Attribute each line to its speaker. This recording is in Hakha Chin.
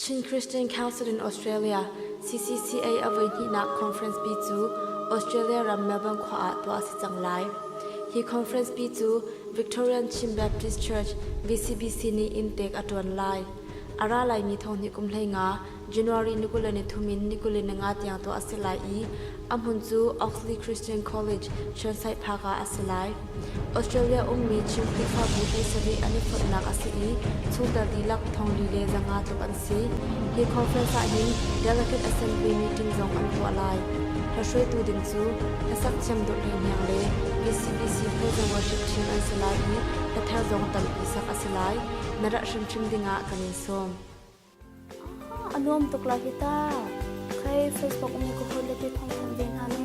Speaker 1: Chin Christian Council in Australia CCCA a voihnihnak conference pi cu Australia ram Melbourne khua ah tuah a si cang lai. Hi conference pi cu Victorian Chin Baptist Church VCBC nih inntek a ṭuan lai. A ra laimi thong hnih kum hleinga January ni kul le nithum in ni kul le ninga tiang tuah a si lai i A hmun cu Oxley Christian College, Churchside Park ah a si lai. Australia ummi Chin Khrihfabu hlei sarih an i phoihnak a si i chungtel dihlak thonglei le zanga tluk an si. Hi conference ahhin Delegate Assembly meeting zong an tuah lai. Hlohruaitu ding cu hlasak thiam dawhli niang le BCBC Praise and Worship Chin an si lai i hlathar zong tampi sak a si lai. Na rah hrimhrim dingah kan in sawm. A nuam tuk lo hi ta. Khei Facebook um ka hawi le ti thong thong ve hna nan.